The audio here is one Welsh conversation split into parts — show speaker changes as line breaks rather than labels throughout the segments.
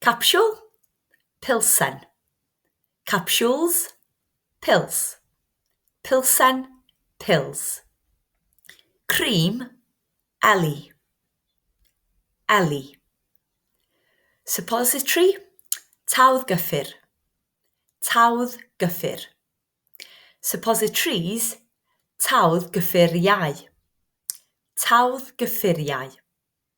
Capsiwl, pilsen. Capsules, pils. Pilsen, pills. Cream, eli. Eli. Suppository, tawdd gyffur. Tawdd gyffur. Suppositories, tawdd gyffuriau. Tawdd gyffuriau.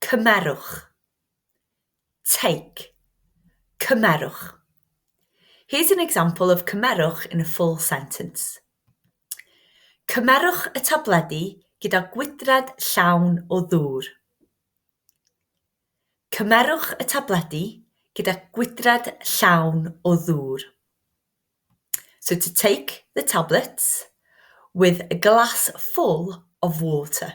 Cymerwch. Take. Cymerwch. Here's an example of cymerwch in a full sentence. Cymerwch y tabledi gyda gwydrad llawn o ddŵr. Cymerwch y tabledi gyda gwydrad llawn o ddŵr. So to take the tablets with a glass full of water.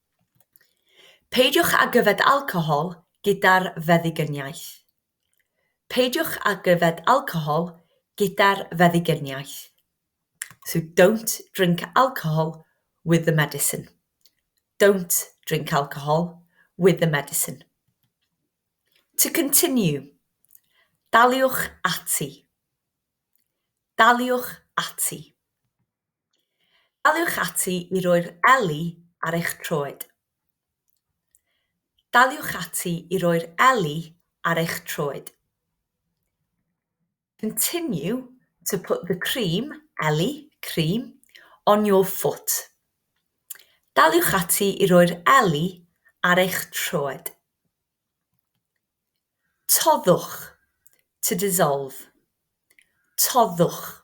Peidiwch ag yfed alcohol gyda'r feddyginiaeth Peidiwch ag yfed alcohol gyda'r feddyginiaeth So don't drink alcohol with the medicine Don't drink alcohol with the medicine To continue Daliwch ati Daliwch ati Daliwch ati i roi'r eli ar eich troed. Daliwch ati i roi'r eli ar eich troed. Continue to put the cream, eli, cream, on your foot. Daliwch ati i roi'r eli ar eich troed. Toddwch, to dissolve. Toddwch.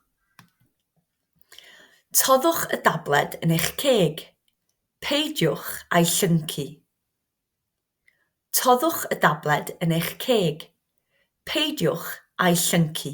Toddwch y dabled yn eich ceg. Peidiwch â'i llyncu. Toddwch y dabled yn eich ceg. Peidiwch â'i llyncu.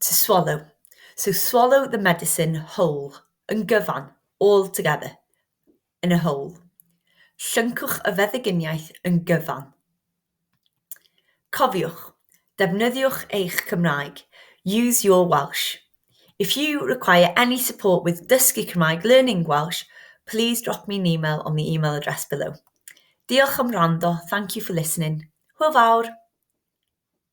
To swallow, so swallow the medicine whole, yn gyfan, altogether, in a whole. Llyncwch y feddyginiaeth yn gyfan. Cofiwch, defnyddiwch eich Cymraeg, use your Welsh. If you require any support with dysgu Cymraeg, learning Welsh, please drop me an email on the email address below. Diolch am wrando, thank you for listening. Hwyl fawr!